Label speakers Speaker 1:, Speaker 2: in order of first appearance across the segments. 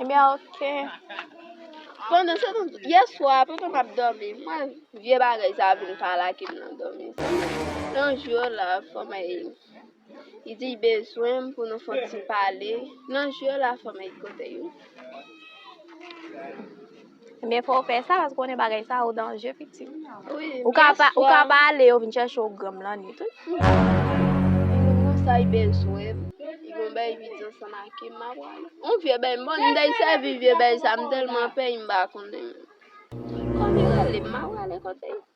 Speaker 1: Ebyen eh ok.
Speaker 2: Pandan se tan, yè swa, pandan m ap dòmi, mwen vye bagay sa vin pale ak m nan dòmi. Yon jou yo la fòmèy, li di li bezwen m pou nou fè yon ti pale. Nan jou yo la fòmèy kote yo?
Speaker 1: Men fò w fè sa paske konnen bagay sa yo danje pitit. Ou ka pa
Speaker 2: ou ka pa
Speaker 1: ale yo vin chèche ou granm lan ni tout. Moun sa
Speaker 2: y bel souwè. Y bon bay vidyo sa ma ke ma wal. On vye bay bon m dey se vye bay sa m telman pè y m ba konnen. Kon mi rele ma wale kote.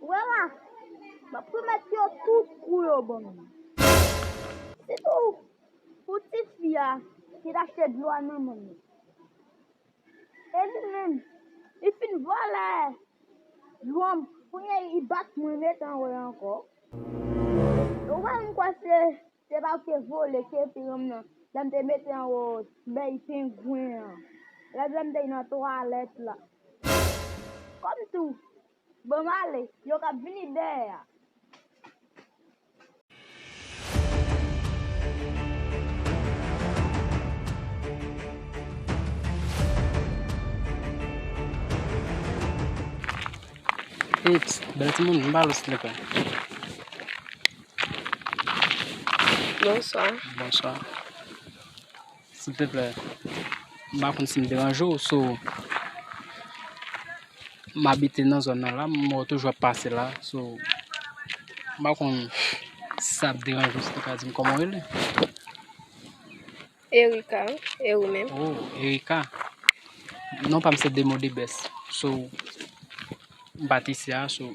Speaker 3: Ou wè la, m ap remèt yo tout pou yo ban m. Sitou pou tifi a ki t achte dlo a nan men m. E li menm, li fin vòlè dlo m, kounye a li bat mwen, li met anwe ankò. Ou wè m kwè se. Se pa ou ki te vole kepi ranm nan lè m te mete anwo bèy pengwen an lòt lè m te nan twalèt la. Kòm tou Bon m ale yo kap vini dèyè a.
Speaker 4: Epss bèl timoun m pa al ostrika.
Speaker 2: Bonswa. Bonswa.
Speaker 4: Silteplè, m pa konn si m deranje w, so, m abite nan zòn nan la, m wè w toujou ap pase la, so, m pa konn si sa ap deranje w si w te ka di m kòman w rele?
Speaker 2: Erika, e ou menm? O, Erika.
Speaker 4: Non pa m se Demodebès. So, m pa t isi a, so.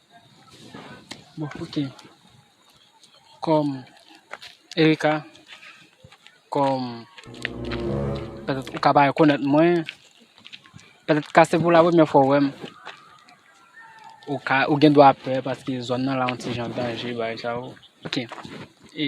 Speaker 4: Bon ok, kòm Erika, kòm pètèt ou ka pa rekonèt mwen, pètèt ka se pou la premyè fwa ou wè m, ou ka, ou gen dwa pè paske zòn nan la yon ti jan danje bagay sa yo. Ok, e.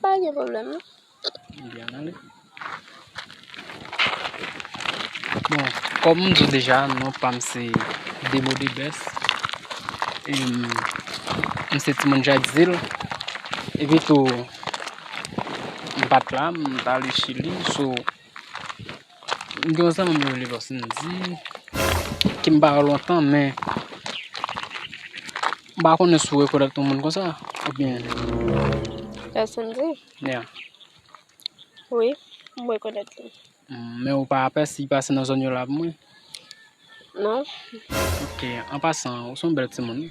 Speaker 4: Pa
Speaker 2: gen problem non.
Speaker 4: Bon, kom m di deja, non pa m se Demo the best. E m se timoun Jackzil. E pi tou, m pat la, m t ale chili. M gen yon zanmi m rele Lòsindi ke m pa wè lontan men m pa konnen si w rekonèt yon moun konsa oubyen.
Speaker 2: Lòsindi? Ya. Wi, m rekonèt li. Men ou pa
Speaker 4: apèsi li pase nan zòn yo la avm wi? Non.
Speaker 2: Ok,
Speaker 4: an pasan, ou se yon bèl timoun wi.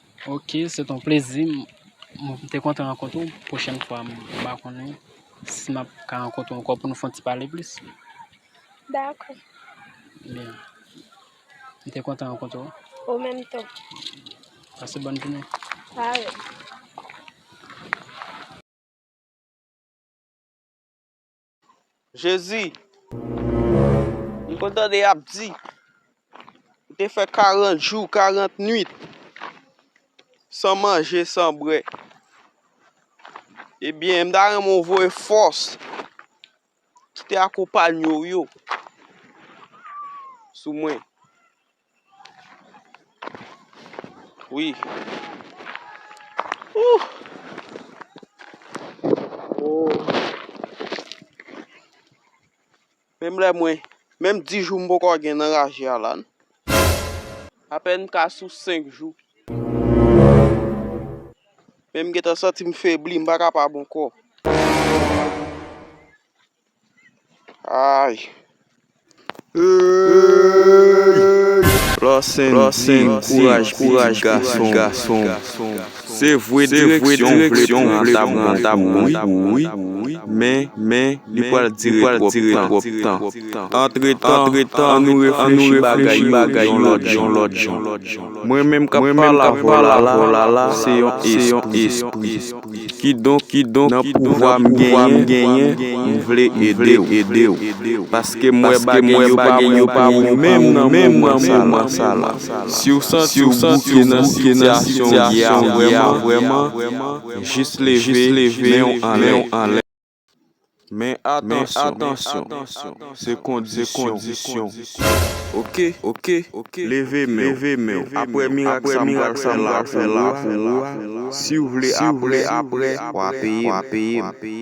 Speaker 4: Ok se ton plezi m te kontan rankontre w pwochèn fwa m ba konnen si map ka rankontre w ankò pou nou fon ti pale plis. Dakò. Byen. M te kontan rankontre w. Ou menm tou.
Speaker 2: Pase
Speaker 4: bòn jounen. Parèy.
Speaker 5: Jezi! M konn tande y ap di, Ou te fè karant jou, karant nuit, san manje, san bwè. Ebyen, m ta renmen ou voye fòs ki te akonpanye ou yo sou mwen. Wi. Ooh. Oh. Menm lè mwen, menm 10 jou m poko gen nan raje a la. Apèn m ka sou 5 jou. Menm m gentan santi m febli, m pa kapab ankò. Ayy.
Speaker 6: Lòsendin kouraj kouraj gason gason se vwe direksyon vleksyon vle pran ta bon wi men men li pral dire twòp tan antretan antretan an nou reflechi bagay bagay yon lòt jan lòt jan mwen menm kap pala volala se yon espri Kidonk, nan pouvwa m genyen, m vle ede w. Paske m wè bagay yo pa bon pou ou menm nan moman sa la. Si w santi w bouke nan sitiyasyon w ye a vrèman, jis leve men w anlè. Men atansyon, se kondisyon, ok? Leve men w, apre mirak sa m pral fè la pou ou a, si w vle apre, w a peye m.